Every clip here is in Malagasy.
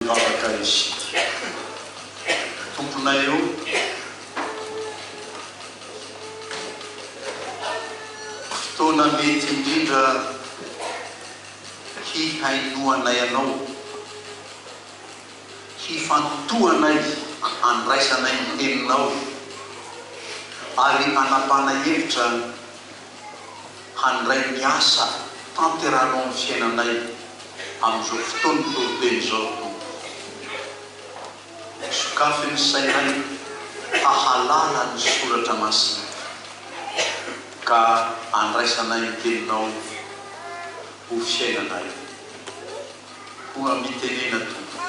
Vavaka isika Tomponay o! Fotoana mety indrindra hihainoanay Anao, hifantohanay, handraisanay ny Teninao ary hanapana hevitra. handray ny asa tanterahano amin'ny fiainanay amin'izao fotoan'ny toroteny izao ry Tompo. Sokafy ny sainay hahalala ny soratra masinika, ka andraisanay ny teninao ho fiainanay. Koa mitenena Tompo,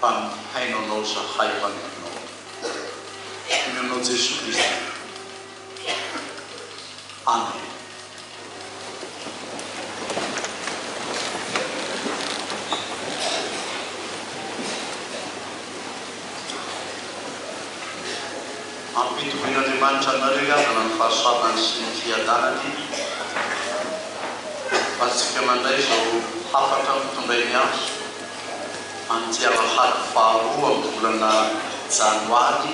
fa mihaino anao zahay mpanomponao. Amin'ny anao Jesoa Kristy. Ampitovin'Andriamanitra aminareo hiadana amin'ny fahasoavany sy ny fiadanany azontsika mandray izao hafatra notondrainy ahy amin'ity alahady faharoa amin'ny volana janoary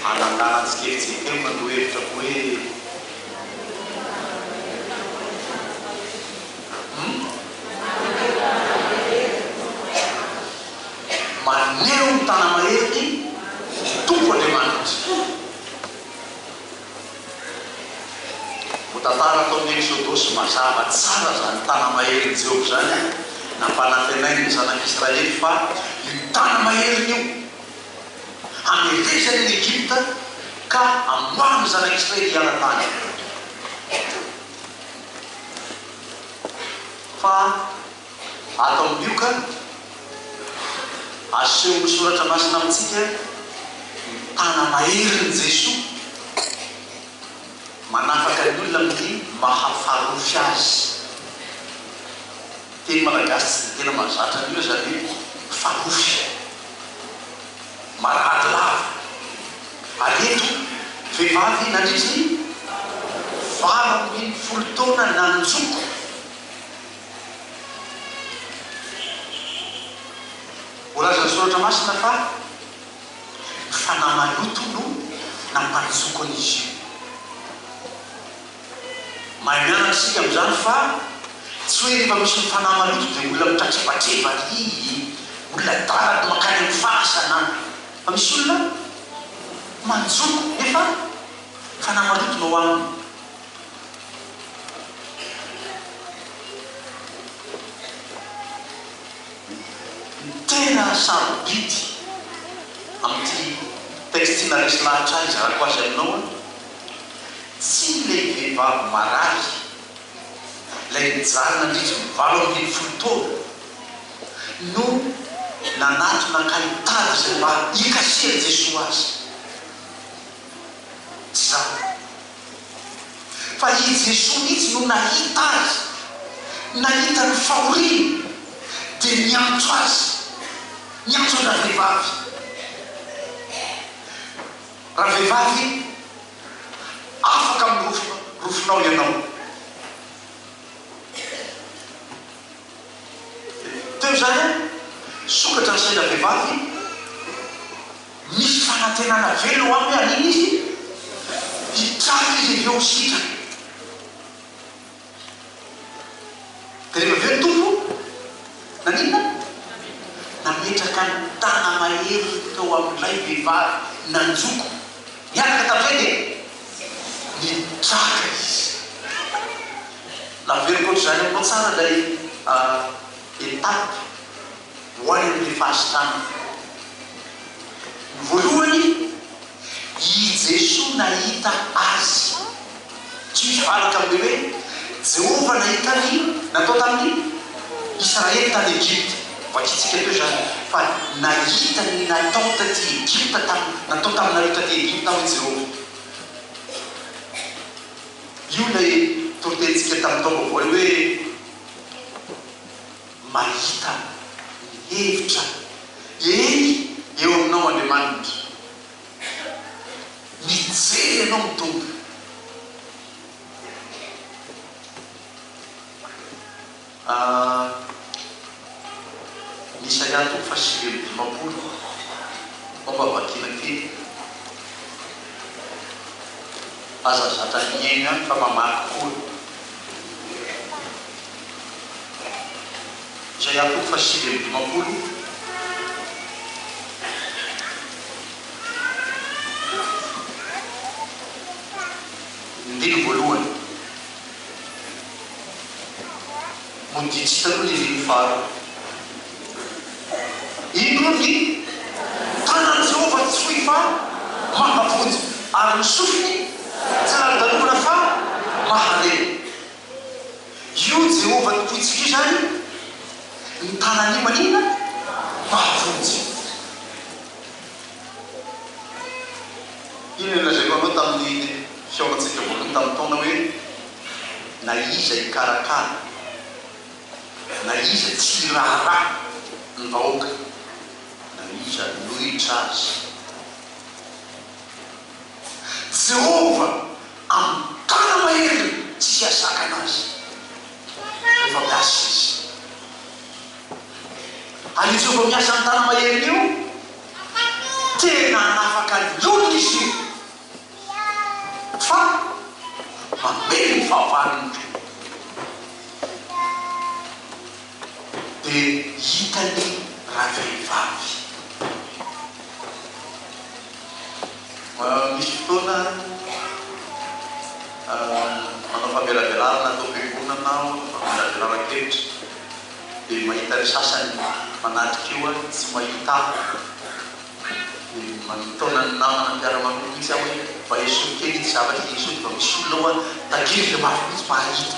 Hanalahany tsikelintsiny kely mandoa hevitra koa hoe Maneho ny tana-maheriny ny Tompo Andriamanitra. Voatantara tao amin'ny Eksodosy mazava tsara izany tana-maherin'i Jehovah izany, nampanantenainy ny Zanak'Israely fa io tana-maheriny io, Handefesany an'i Egypta ka hamoahany ny Zanak'i Israely hiala tany. Fa ato amin'ny Lioka, asehon'ny Soratra Masina amintsika ny tana maherin'i Jesoa manafaka ny olona amin'ny mahafarofy Azy. Teny malagasy tsy dia tena mahazatra an'io izany hoe farofy. Marary lava. Ary eto, vehivavy nandritry ny valo ambin'ny folo taona nanjoko. Voalazan'ny Soratra Masina fa ny fanahy maloto no nampanjoko an'izy io. Mahay mianatra isika amin'izany fa tsy hoe rehefa misy mifanà maloto dia olona mitratrebatreba ry olona adala no mankany amin'ny fasana fa misy olona manjoko nefa mifanà maloto no ao aminy. Ny tena sarobidy amin'ity texte ity na resy lahatra izarako azy aminao an! Tsy ilay vehivavy marary, ilay nijaly nandritra ny valo amby folo taona, no nanatona ka nitady izay mba hikasihan'i Jesoa azy. Tsy izany. Fa i Jesoa mihitsy no nahita azy, nahita ny fahoriany, dia niantso azy, niantso an-dravehivavy. Raha vehivavy, afaka mirofo rofonao ianao. Teo izany an, sokatra ny saina vehivavy, misy fanantenana velona ho aminy hoe hanina izy, hitraka izy avy eo ho sitrana. Dia rehefa avy eo ny Tompo naninona? Nametraka ny tana-maherin'ny teo amin'ilay vehivavy nanjoko niaraka tamin'izay dia nitraka izy. Naveriko ohatr'izany aminao tsara ilay étape. hoany amin'ny fahasitrana. Ny voalohany, i Jesoa nahita azy. Tsy misy valaka amin'ilay hoe Jehovah nahita ny natao tamin'ny Israely tany Egypta. Vakintsika teo izany fa nahita ny natao taty Egypta tam, natao taminareo taty Egypta aho i Jehovah. Io ilay toritenintsika tamin'ny taom-baovao io hoe. Mahita ny hevitra eny eo aminao Andriamanitra. Mijery anao ny Tompo. Ny Isaia toko fahasivy amby dimampolo, Momba vakina kely. Aza zatra mihaino ihany fa mamaky koa. izay ampy faha sivy amby dimampolo ny andininy voalohany no didy sy taloha ny andininy faharoa. Indro ny tanan'i Jehovah tsy fohy fa mahavonjy, ary ny sofiny tsy lany-dalovana fa mahalemy. Io Jehovah Tompointsika io izany no tanan'io maninona? Mahavonjy. Iny nolazaiko anao tamin'ny fihaonantsika voalohany tamin'ny taona hoe, Na iza hikarakara, na iza tsy hiraharaha ny vahoaka, na iza hanohitra azy. Jehovah amin'ny tàna maherin'ny tsy hahazakana azy rehefa miasa izy. Ary io Jehovah miasa amin'ny tàna maherin'ny io, tena hanafaka ny olony izy io, fa mamely ny fahavalony koa. Dia hitan'ny ravehivavy. Misy fotoana manao famelabelarana ato am-piangonana aho, manao famelabelaran-kevitra, dia mahita ny sasany manatrika eo aho, tsy mahita ahy. Dia manotona ny namana mpiara-manompo mihitsy aho hoe, mba esory kely ity zavatra ity, sao dia mba misy olona ao an-takiry dia mafy mihitsy mba hahita.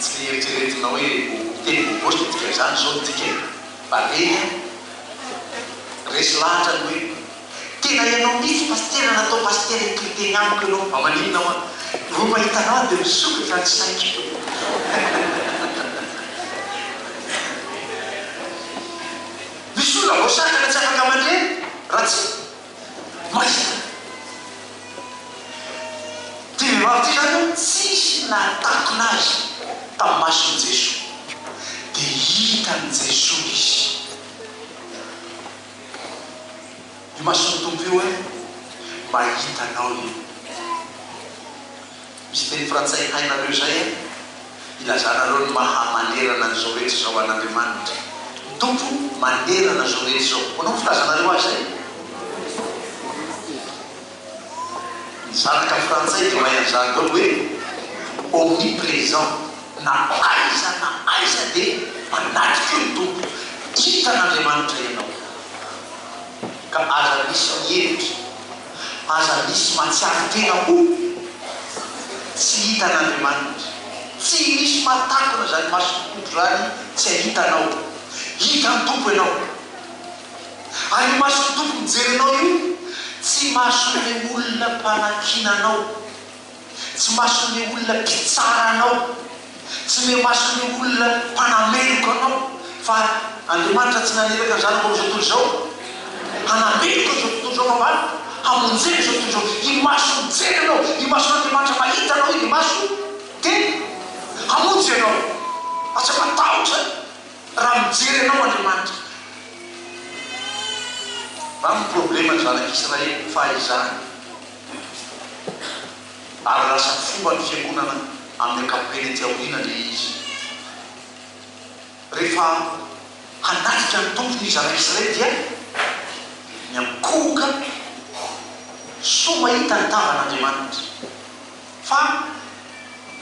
Tsy eritreretina hoe ho teny bobositra dika izany izao ny dika e! Baleine a! Resy lahatra ny hoe Tena ianao mihitsy pasitera natao pasitera hitory teny amiko ianao fa maninona hoa? Vao mahita anao aho dia misokatra ny saiko. Misy olona voasakana tsy afaka mandre raha tsy. Maika! Ity vehivavy ity izany hono tsisy nahatakona azy tamin'ny mason'i Jesoa. Dia hitan'i Jesoa izy. Imason'ny Tompo io hoe, Mahita anao io. Misy teny frantsay hainareo izay an? Ilazanareo ny maha manerana an'izao rehetra izao an'Andriamanitra. Ny Tompo manerana izao rehetra izao. Ahoana no filazanareo azy izay? Ny zanaka frantsay dia mahay an'izany daholo hoe omnipresent. Na aiza na aiza dia manatrika eo ny Tompo. Hitan'Andriamanitra ianao. Ka aza misy mihevitra. Aza misy matsiaro tena ho tsy hitan'Andriamanitra. Tsy misy mahatakona izany mason'ny Tompo izany tsy hahita anao. Hitan'ny Tompo ianao. Ary io mason'ny Tompo mijery anao io, tsy mason'ilay olona mpanakiana anao. Tsy mason'ny olona mpitsara anao, tsy miha-mason'ny olona mpanameloka anao, fa Andriamanitra tsy naniraka ny Zanako amin'izao tontolo izao hanameloka izao tontolo izao, fa mba hamonjena izao tontolo izao. Imaso mijery anao, imason'Andriamanitra mahita anao iny imaso dia hamonjy anao, fa tsy matahotra raha mijery anao Andriamanitra. Mba ny problème ny zanak'Israely fahizany. ary lasa fomba ny fiangonana amin'ny ankapobeny ety aoriana anie izy. Rehefa hanatrika ny Tompo ny zanak'Israely dia miankohoka soa mahita ny tavan'Andriamanitra. Fa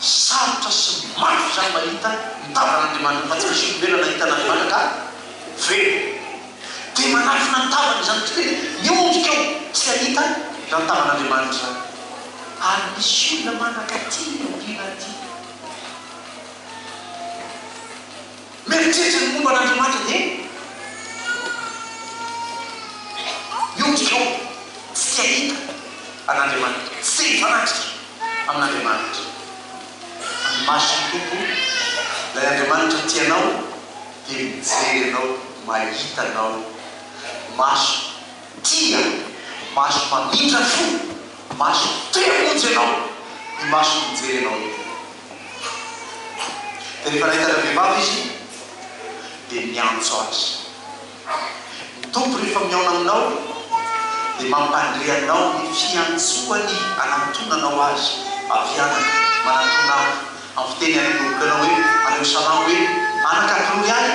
sarotra sy mafy izany mahita mitavana an'Andriamanitra fa tsy misy olombelona nahita an'Andriamanitra ka velona. Dia manafina ny tavany izany kristy dia miondrika eo tsy hahita izany tavan'Andriamanitra izany. Ary misy olona manakaty ny andriana aty. Mieritreritra ny momba an'Andriamanitra dia mihoatra izao, tsy te hahita an'Andriamanitra, tsy te hifanatrika amin'Andriamanitra. Fa ny mason'ny Tompo, ilay Andriamanitra tia anao, dia mijery anao, mahita anao. Maso tia, maso mamindra fo, maso te hamonjy anao, io maso mijery anao io. Dia rehefa nahita ilay vehivavy izy dia niantso azy. Ny Tompo rehefa mihaona aminao dia mampandre anao ny fiantsoany anantonanao Azy, avy anaka, manantona Ahy, amin'ny fiteny any Hebreo anao hoe, any amin'ny Salamo hoe, anaka, glory Ahy.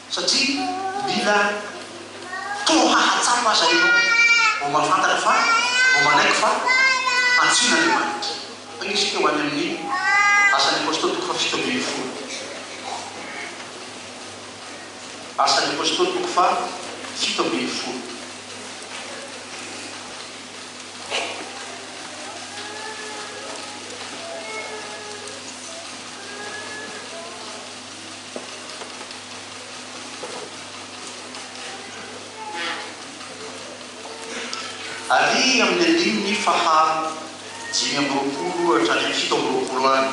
Satria mila fotoa hahatsapa aza ianao vao mahafantatra fa, vao manaiky fa antsoin'Andriamanitra. Hoy isika ho any amin'ny Asan'ny Apôstôly toko fahafito ambin'ny folo. Asan'ny Apôstôly toko fahafito ambin'ny folo. Ary amin'ny andininy faha dimy amby roapolo hatrany amin'ny fito amby roapolo any,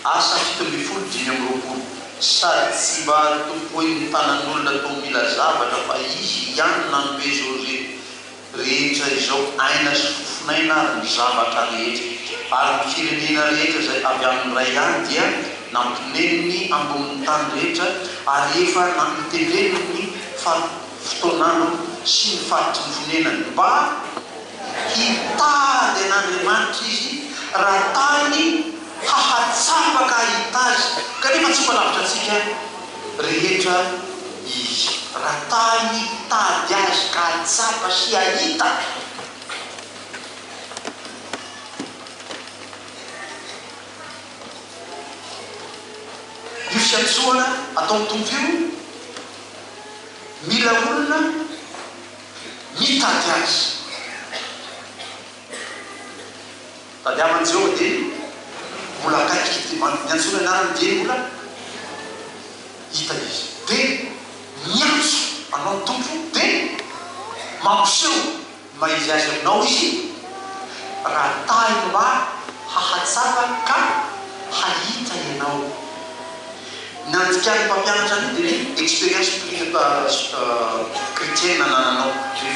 Asa fito ambin'ny folo dimy amby roapolo, Sady tsy mba tompoin'ny tanan'olona toa mila zavatra fa izy ihany nanome José. rehetra izao, aina sy fofon'aina ary ny zavatra rehetra, ary ny firenena rehetra izay avy amin'ny Ray ihany dia nampineniny ambonin'ny tany rehetra, ary efa namiteneniny ny fari-potoan'androny sy ny faritry ny fonenany, mba hitady an'Andriamanitra izy, raha tany hahatsapa ka hahita azy, kanefa tsy mba lavitra antsika, rehetra izy. Raha ta hitady azy ka hahatsapa sy hahita, io fiantsoana ataon'ny Tompo io, mila olona mitady azy. Tadiavin'i Jehovah dieny mbola akaiky ity bandy niantsoana anarany dieny mbola hita izy. Dia miantso anao ny Tompo, dia mampiseho ny maha izy azy aminao izy, raha tahiny mba hahatsapa ka hahita ianao. Ny nandikan'ny mpampianatra an'io dia ny expérience chrétienne nanananao, ny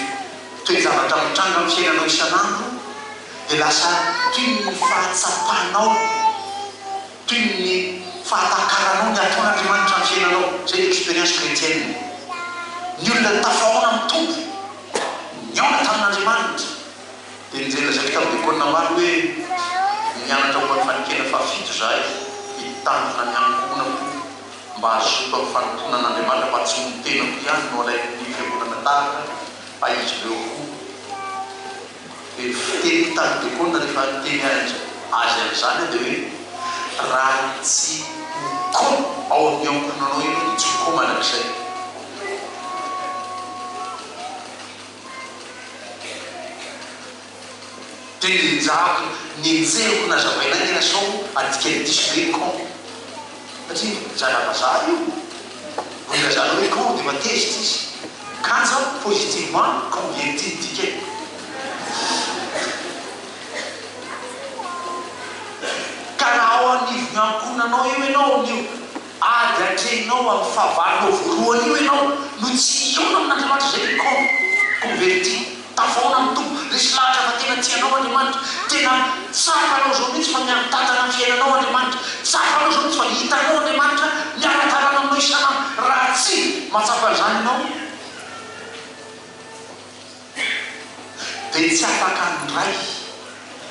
toe-javatra mitranga amin'ny fiainanao isan'andro. dia lasa toy ny fahatsapanao, toy ny fahatakaranao ny ataon'Andriamanitra amin'ny fiainanao. Izay ny expérience chrétienne. Ny olona tafahaona amin'ny Tompo, nihaona tamin'Andriamanitra, dia nijerena zavatra tamin'ny Diakona Namaly hoe, Nianatra momba ny fanekena fahafito izahay, hitandrina ny ankohonako mba hazoto amin'ny fanompoana an'Andriamanitra fa tsy ny tenako ihany no alain'ny fiangonana tahaka fa izy ireo koa. Dia fiteny mitady dokona rehefa miteny azy an'izany aho dia hoe, raha tsy ho ko ao amin'ny ankohonanao ianao dia tsy ho ko mandrakizay. Teny Ianjavony nenjehiko nazavainay ny anasaoko, adikany diso be ny ko. satria zana-vazaha io, vao ilazanao hoe quand dia efa tezitra izy, kanja positivement quand dia tia midika e! Ka raha ao anivon'ny ankohonanao eo ianao amin'io ady atrehinao amin'ny fahavalonao voalohany io ianao no tsy hihaona amin'Andriamanitra izay ny quand, converti. Tavaona amin'ny Tompo, resy lahatra fa tena tia anao Andriamanitra, tena tsapanao izao mihitsy fa miara-tantana amin'ny fiainanao Andriamanitra, tsapanao izao mihitsy fa hitanao Andriamanitra miara-dalana aminao isan'andro, raha tsy mahatsapa an'izany ianao dia tsy afaka handray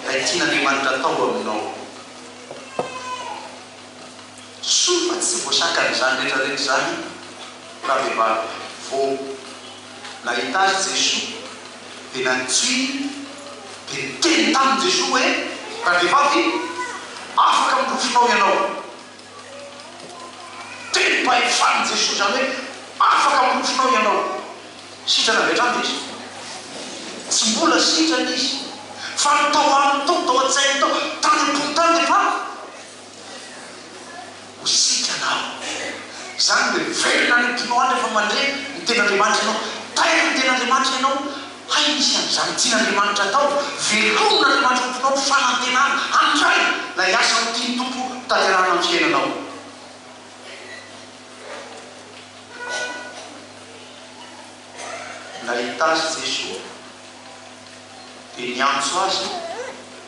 ilay tian'Andriamanitra atao aminao. Soa fa tsy voasakan'izany rehetra rehetra izany ravehivavy vao. nahita azy Jesoa dia nantsoiny dia niteny taminy Jesoa hoe, Randevavy, afaka minofinao ianao. Tenim-pahefany Jesoa izany hoe afaka minofinao ianao. Sitrana avy hatrany izy? Tsy mbola sitrana izy, fa ny tao aminy tao, tao an-tsainy tao, tany am-pony tany dia faly. ho sitranaho. Izany dia miverina any am-ponao any rehefa mandre ny Tenin'Andriamanitra ianao. Tairo ny Tenin'Andriamanitra ianao, hay misy an'izany tian'Andriamanitra atao. Velomin'Andriamanitra ao am-ponao ny fanantenana handray ilay asa notian'ny Tompo hotanterahana amin'ny fiainanao. Nahita azy Jesoa. dia niantso azy hoe,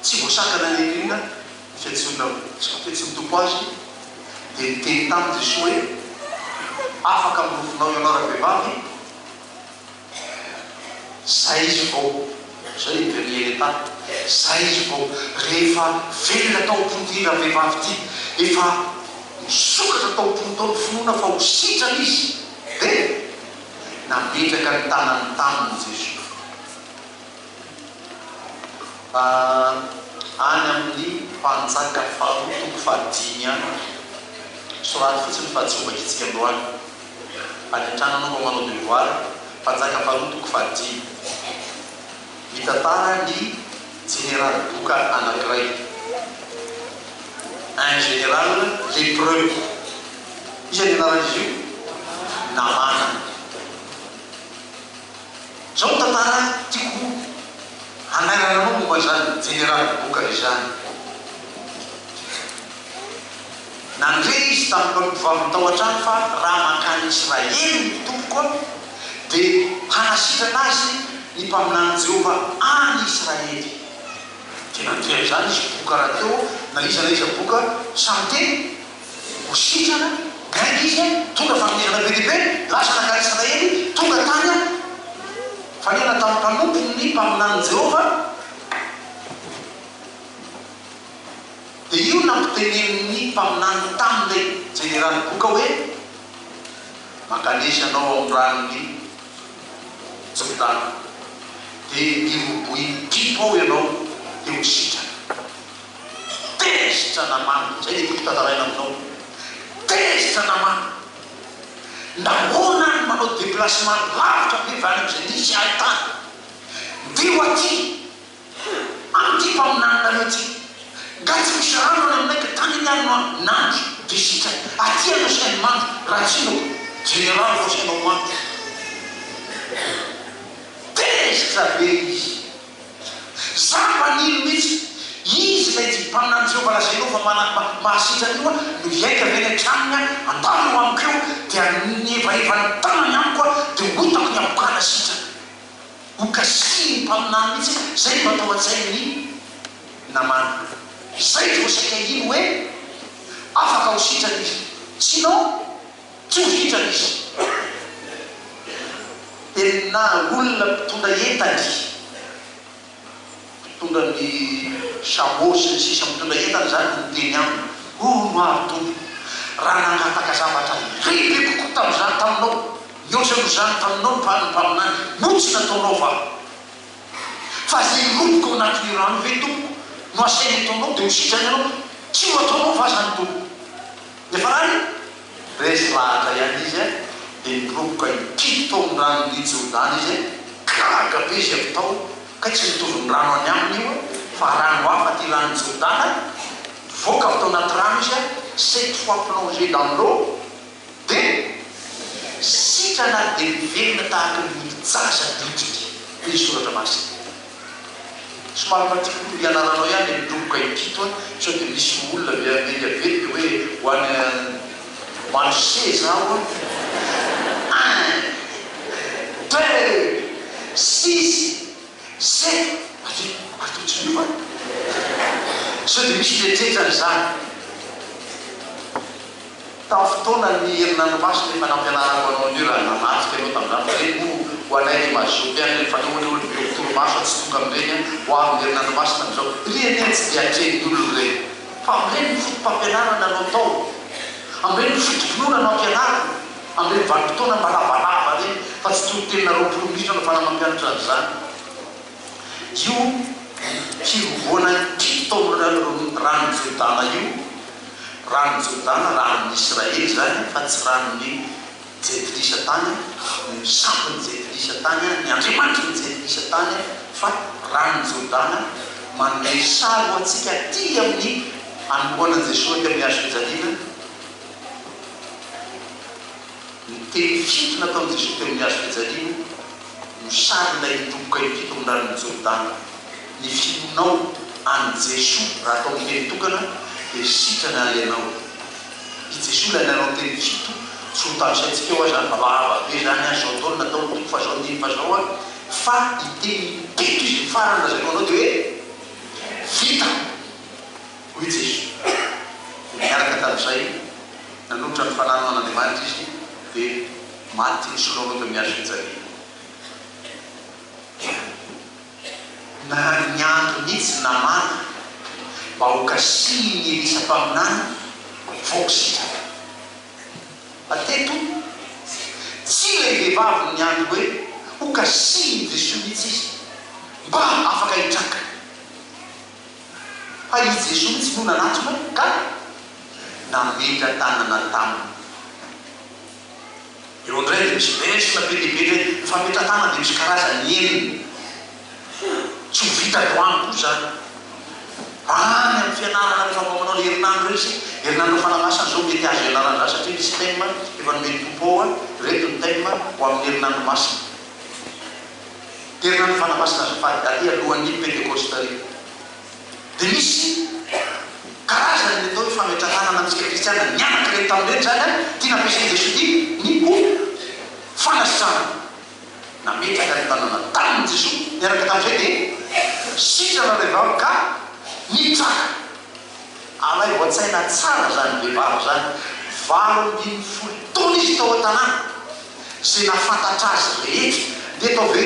Tsy voasakana ny angelina ny fiantsoana hoe, tsy voafiantsoan'ny Tompo azy, dia niteny taminy Jesoa hoe, Afaka amin'ny rovinao ianao ravehivavy, zay izy vao, izao i Henrietta, zay izy vao, rehefa velona tao am-pon'ity ravehivavy ity, efa nisokatra tao am-pony tao ny finoana fa ho sitrana izy, dia. nametraka ny tanany taminy i Jesoa. A Any amin'ny Mpanjaka faharoa toko fahadimy any, soraty fotsiny fa tsy ho vakintsika androany. Any an-trano ianao mba manao devoir, Mpanjaka faharoa toko fahadimy. Mitantara ny Jeneraly boka anankiray, un général lépreux, iza ny anaran'izy io? Namàna. Izao ny tantara tiako hanairana anao momba an'izany jeneraly boka izany. Nandre izy tamin'ireo mpivaviny tao an-trano fa raha mankany Israely ny tompoko, dia hanasitrana azy ny mpaminanin'i Jehovah any Israely. Dia nandre an'izany izy boka rahateo na iza na iza boka samy teny ho sitrana, niainga izy, nitondra fanomezana be dia be, lasa nankany Israely, tonga tany am-panenana tamin'ny mpanompony ny mpaminanin'i Jehovah. Dia io nampitenenin'ny mpaminany tamin'ilay jeneraly boka hoe, Mankanesy anao amin'ny ranon'i Jordana, dia mirobohy mpitpo ao ianao, dia ho sitrana. Tezitra namana. Izay dia tiako tantaraina aminao. Tezitra namana. Nahoana aho no manao déplacement lavitra be avy any amin'izay nisy ahy tany? Ndeha ho aty! Hum! Any ity mpaminaninareo ity. Nga tsy misy rano any aminay ka tany anie no aho nandry dia sitrany. Aty any asiany mando raha tsy inona ô. Jeneraly vao asianao mando. Tezitra be izy. Za mpanilo mihitsy. Izy ilay tia mpaminany Jehovah lazainao fa mana ma mahasitrana io an, no hiaika avy eny an-tranony an, andalo eo amiko eo dia ny hevaheva ny tanany amiko an dia ho hitako ny habokana sitrana. Ho kasainy ny mpaminany mihitsy hoe izay no atao an-tsain' ny namana. Izay vao saika hino hoe afaka ho sitrana izy. Sinon, tsy ho sitrana izy. Enina olona mpitondra entany. Mpitondra ny chameau sy ny sisa mitondra entana izany no niteny aminy, hono aho Tompo, raha nangataka zavatra iray be kokoa tamin'izany taminao, mihoatra noho izany taminao ny ny mpaminany, moa tsy nataonao va? Fa izay hiroboka ao anatin'io rano io ve Tompoko no asainy ataonao dia ho sitrana ianao? Tsy ho ataonao va izany Tompoko? Nefa raha ny. Resy lahatra ihany izy a! Dia niroboka hikidy tao amin'ny ranon'i Jordana izy a! Gaga be izy avy tao kay tsy mitovy ny rano any aminy io a! Fa rano hafa ity ranon'i Jordana a! Nivoaka avy tao anaty rano izy a! Cette fois plongé dans l'eau dia sitrana ary dia miverina tahaka ny olo-jaza ny hodiny. Hoy ny Soratra Masina. Somary madinika ny ianaranao ihany dia midoboka impito an! Sao dia misy olona avy any India ve dia hoe ho any Manche zaho an! Un! Deux! Six! Sept! Avia! Ary toa tsy miova an! Sao dia misy fetr'enjana izany? Tamin'ny fotoanan'ny herinandro masina efa nampianarako anao an'io raha nanatrika anao tamin'izany fa ireny moa ho anay dia mazoto ihany ireny fa aleo anie olo be ho torimaso fa tsy tonga amin'ireny an! ho avy ny herinandro masina amin'izao ry anie an! tsy dia atrehin'ny olona ireny fa amin'ireny no foto-pampianarana no atao amin'ireny no foto-pinoana no ampianarina amin'ireny vanim-potoana mba lavalava ireny fa tsy toriteninareo roapolo minitra no fanamampianatra an'izany Io hirovoana ity taolana ranon'i Jordana io, ranon'i Jordana, ranon'ny Israely izany fa tsy ranon'ny Jentilisa tany, ny sampon'ny Jentilisa tany, ny andriamanitry ny Jentilisa tany, fa ranon'i Jordana, manome sary ho antsika aty amin'ny anoloanan'i Jesoa aty amin'ny hazofijaliana, Ny teny fito nataon'i Jesoa teo amin'ny hazo fijaliana no sarina hidoboka impito amin'ny ranon'i Jordana. Ny finoanao an'i Jesoa raha atao miteny tokana dia sitrana ary ianao. I Jesoa ilay nanao teny fito tsy ho tanisaintsika eo aza fa lava be izany aza izao daholo nataon'ny Tompo fa izao nino fa izao aho fa hiteny impito Izy ny farany lazainao anao dia hoe vita. Hoy i Jesoa, dia niaraka tamin'izay, nanolotra ny fanahiny ho an'Andriamanitra izy, dia maty nisoloaloha teo amin'ny hazo fijaliana. Dia narary niandry mihitsy Namàna mba ho kasihin'i Elisa mpaminany ny vohoka sy hijaliana. Fa teto, tsy ilay vehivavy no niandry hoe ho kasihin'i Jesoa mihitsy izy mba afaka hitraka. Fa i Jesoa mihitsy no nanatona ka nametra-tanana taminy. Eo indray dia misy verse be dia be indray, ny fametra-tanana dia misy karazany enina. Tsy ho vitako amiko izany. Any amin'ny fianarana rehefa mba manao ilay herinandro ireny isika, herinandro fanamasina izao mety azo ianarana izany satria misy thème efa nomen'ny Tompo ao hoe ireto ny thème ho amin'ny herinandro masina. Herinandro fanamasina sy fahadaliny alohan'ny Pentekosta io dia misy karazany ny atao hoe fametra-tanana amintsika kristiana nianaka ireny tamin'ny ireny izany an, ity nampiasain'i Jesoa ity ny ho fanasana. Nametraka ny tanana taminy Jesoa, niaraka tamin'izay dia sitrana ilay vavy ka nitsaka. Alaivo an-tsaina tsara izany vehivavy izany, valo ambin'ny folo taona izy tao an-tanàna. izay nahafantatra azy rehetra. Dia tao ve?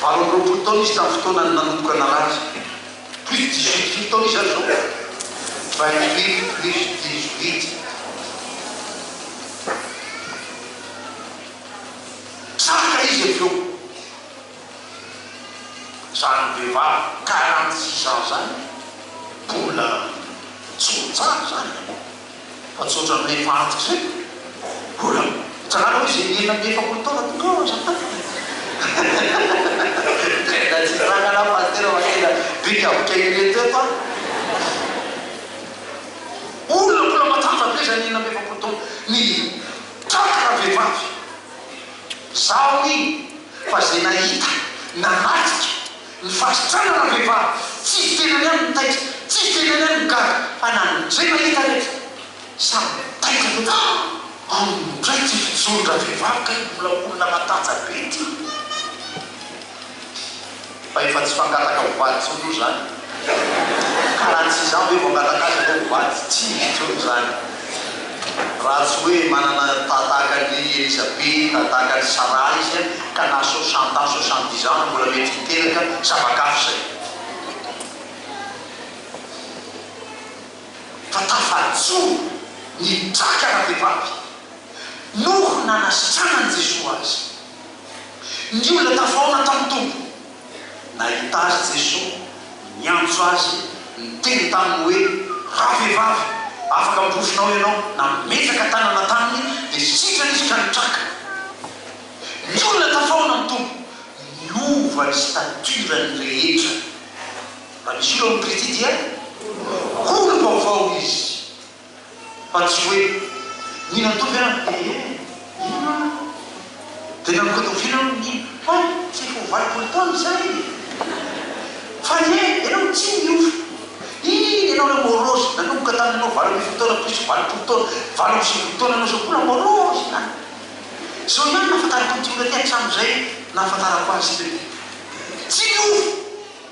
Valo amby roapolo taona izy tamin'ny fotoana nanomboka narary. Plus dix huit mille taona izy aza izao. Vingt huit plus dix huit. Tratra izy avy eo. Izany vehivavy quarante six ans izany mbola tsy ho tsara izany. Fa tsotra amin'ilay faritro izay. Mbola mitranga aloha izay enina amby efapolo taona tonga eo aza an. Tena tsy hitranga anah Pasitera fa tena bika bika ireto eto an. Olona mbola matanjaka be izany enina amby efapolo taona mitraka vehivavy. Izaho iny fa izay nahita, nanatrika. Ny fahasitrana ra vehivavy tsy izy tenany ihany no taitra, tsy izy tenany ihany no gaga fa na ny zay mahita rehetra samy taitra loatra ah! Aminy indray ty fijoro ra vehivavy kay mbola olona matanja be ty fa efa tsy fangataka ho vady tsony oa zany ka raha tsy izaho ve vao angataka azy aleo ho vady, tsy misy tsony zany. Raha tsy hoe manana ta tahaka an'i Elisabeta, tahaka an'i Sarah izy an, ka na soixante ans, soixante dix ans aza mbola mety hiteraka zava-kafa izay. Fa tafajoro ny draka na vehivavy noho nanasitranan'i Jesoa azy. Ny olona tafahaona tamin'ny Tompo. Nahita azy Jesoa, niantso azy, niteny taminy hoe, Ravehivavy, afaka miporofona aho ianao. Nametraka tanana taminy, dia sitrana izy ka nitraka. Ny olona tafahoana ny Tompo, niova ny stature-ny rehetra. Raha misy olona ao amin'ny Pretty dia olo-baovao izy. Fa tsy hoe, ny natory aho dia ee, inona aho? Dia nangodoviana aho ny hoe, tsy ho valopolo taona izay ee. Fa ee, ianao tsy niova. Iny ianao ilay morose nanomboka tamin'ianao valo ambin'ny folo taona plus valopolo taona, valo amby sivifolo taona ianao izao koa la morose ihany. Izao ihany no nahafantarako an'ity olona ity hatramin'izay nahafantarako azy teo. Tsy niova!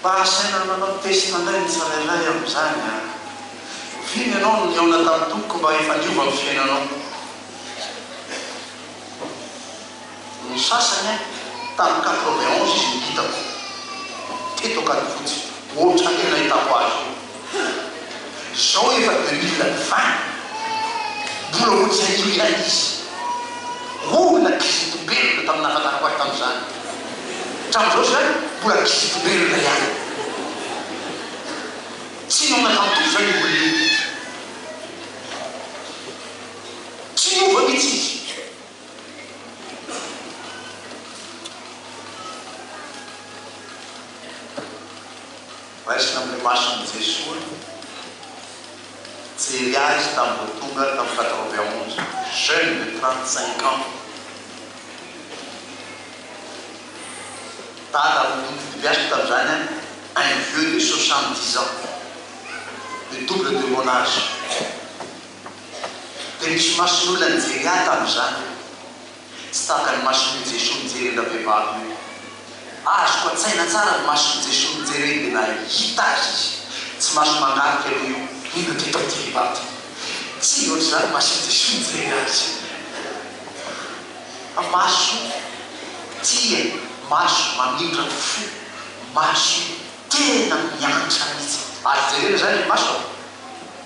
Mba asaina manao test indray ny tsirairay amin'izany an! Oviana ianao no nihaona tamin'ny Tompoko mba efa niova ny fiainanao? Ny sasany an, tamin'ny quatre-vingt onze izy no hitako, teto Ankadifotsy, ohatran'io nahitako azy io. Hum! Zao efa deux mille vingt mbola ho tsy hain'inona ilay izy. Hoy na kizitim-belona tamin'ny nahafantarako ahy tamin'izany. Hatramin'izao izany mbola kizitim-belona ihany. Tsy niova nantory izany io olona io. Tsy niova mihitsy izy. Raisina amin'ny mason'i Jesoa nijery azy tamin'ny vao tonga tamin'ny quatre vingt onze, jeune de trente cinq ans, dada amin'ny tonon'ny fitebeaziko tamin'izany an, un vieux de soixante dix ans, le double de mon age, dia nisy mason'olona nijery ahy tamin'izany. Tsy taka ny mason'i io Jesoa mijery an-dra vehivavy io. Azoko an-tsaina tsara ny mason'i Jesoa mijery an-dra lehilahy io. Hita azy izy. Tsy maso mangarika aloha io, mino ity mpadio vehivavy ity. Tsy ohatr'izany ny mason'i Jesoa mijery azy. Maso tia, maso mamindrana fo, maso tena miantra mihitsy. Ary jerena izany ry maso a!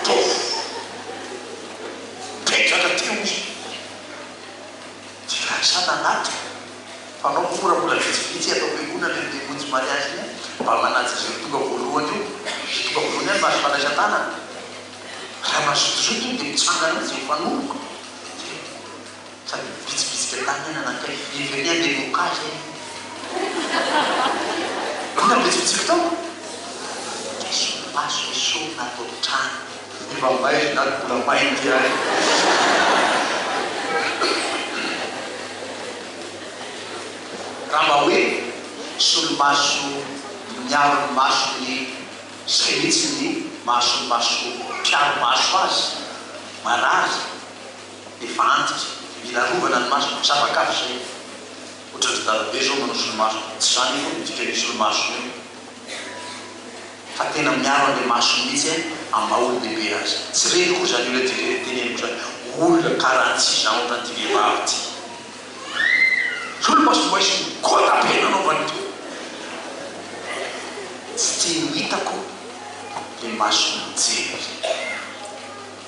Ataovy Dia hitraka aty hoy izy Dia lasa nanaty Mpanao mora mbola vitsivitsy ato am-piangonana iny dia monjy mariazy iny an Mba manaja izay ho tonga voalohany eo Izay tonga voalohany any mba azo fandraisan-tanana Raha mazotozoto iny dia mitsangana mihitsy mifanoroka Dia Fa ny bitsibitsika tany anie nanakaiky firy ve ny andeha himoka azy e? Mbola ny bitsibitsika tao? Dia solomaso esorina ato an-trano. Efa may ry dada mbola may ity ary. Raha mba hoe solomaso miaro ny masony sahitsy ny mahasolomaso mpiaro maso azy, marary. Efa antitra, mila arovana ny masoko, tsy afaka avy zay. Otran dry dadabe izao manao solomaso, tsy zany akory ny dikan io solomasony io fa tena miaro anle masony mihitsy eh, amin'ny maha olon-dehibe azy. Tsy reniko akory zany io ilay dika ilay teneniko zany, olona karaha tsy izaho otran ty vehivavy ty solomaso mba hisy gota be nanaovany to, tsy tiany ho hitako le masony mijery.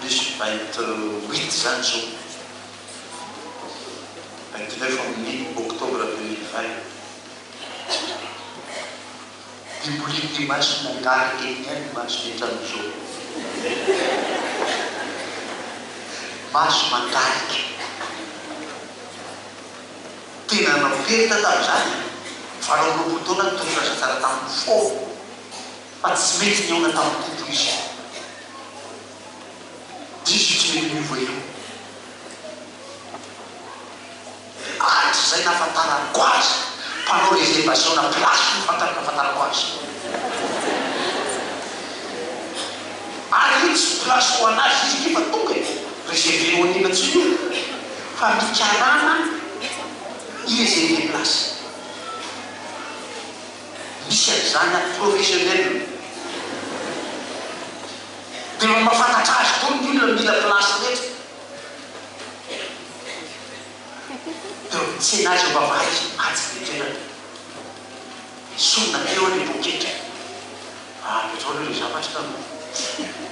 Plus 28 zany zao, 29 amin'ny octobre 2020. Dia mbola eny Toamasina gare eny ihany ny maso miantrano zao. Maso mangarika. Tena nanao perta tamin'izany e. Valo amby roapolo taona ny tolona zazalahy tamiko fôna. Fa tsy mety nihaona tamin'ny Tompo izy. Diso io tsy mety miova io. Hatrizay nahafantarako azy, mpanao reservation na place no fantako nahafantarako azy. Ary io tsy place ho an'azy izy ity fa tonga e! Reserver ho an'inona tsy ho inona fa ny karama i reserver place. misy haizana professionnel. Dia mba mahafantatra azy koa ny olona mila place rehetra. Teo amin'ny tsena aza mba vahaizina atsy ny toerana. Sorona teo ilay poketra. Ary izao aloha ilay zavatra ka no tena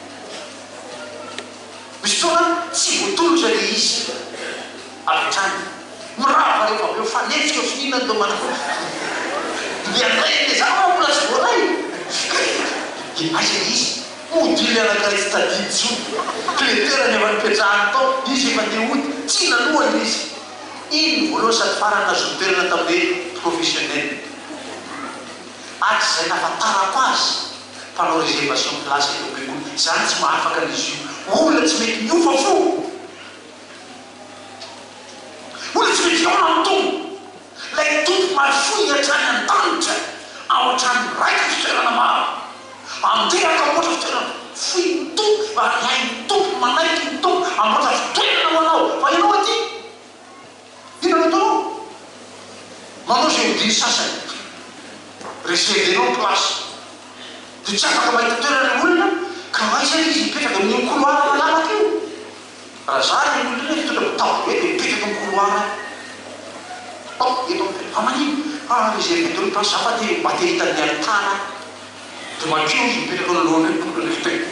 misy fotoana tsy voatolotra ilay izy avy hatrany. Mirava rehefa avy eo mifanenjika eo finiana ireo mpanao dia handray an'ilay zavatra fa mbola tsy voaray dia aiza ilay izy? Hody ilay anankiray tsy tadidy intsony. Kleterany efa nipetrahany tao, izy efa te hody, tsy nanohana ilay izy. Iny no voalohany sady farany nahazoany toerana tamin'ny hoe professionnel. Hatrizay nahafantarako azy, mpanao réservation de place eto am-piangonana, izaho tsy mahafaka an'izy io, olona tsy mety miofa fo, olona tsy mety hihaona amin'ny Tompo, ilay Tompo mahafoy hatrany an-danitra, ao an-tranon'ny Raiko fitoerana maro, andeha ka hamboatra fitoerana, foy ny Tompo, variahy ny Tompo, manaiky ny Tompo, hamboatra fitoerana ho anao, fa ianao aty. Inona no ataonao? Manao izay hodiny sasany. Resev enao ny place. Dia tsy afaka mahita toerana ny olona ka aiza ary izy hipetraka? Amin'iny couloir malalaka iny. Raha za ilay olona iny hitondra mitabo be dia mipetraka amin'ny couloir aho. Hop! Eto aho mipetraka. Fa manino? Fa reserve daholo ny place. Za fa te mba te hahita ny any tana aho. Dia madio izy mipetraka eo anoloan'ireo mpitondra ny fiteny.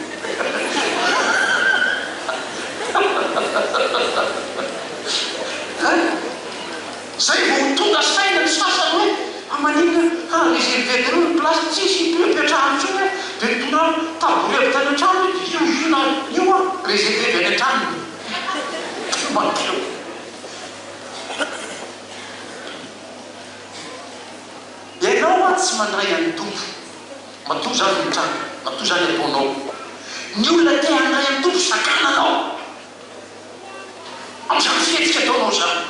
Hay! Izay vao ho tonga saina ny sasany hoe, fa maninona ka reserver daholo ny place, tsisy ito ipetrahany intsony aho, dia nitondrany tabouret avy tany an-trano hoe, dia io io na io an, reserver avy any an-tranony io. Dia madio. Ianao mantsy mandray an'ny Tompo. Matoa izany ny tranga, matoa izany ataonao. Ny olona te handray an'ny Tompo sakana anao amin'izany fihetsika ataonao izany.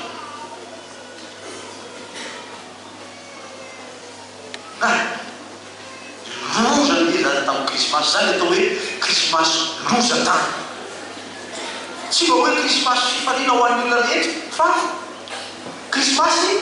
Hay, loza ny nilany tamin'ny Krismasy. Izany atao hoe Krismasy loza tany. Tsy mba hoe Krismasy fifaliana ho an'ny olona rehetra, fa Krismasy.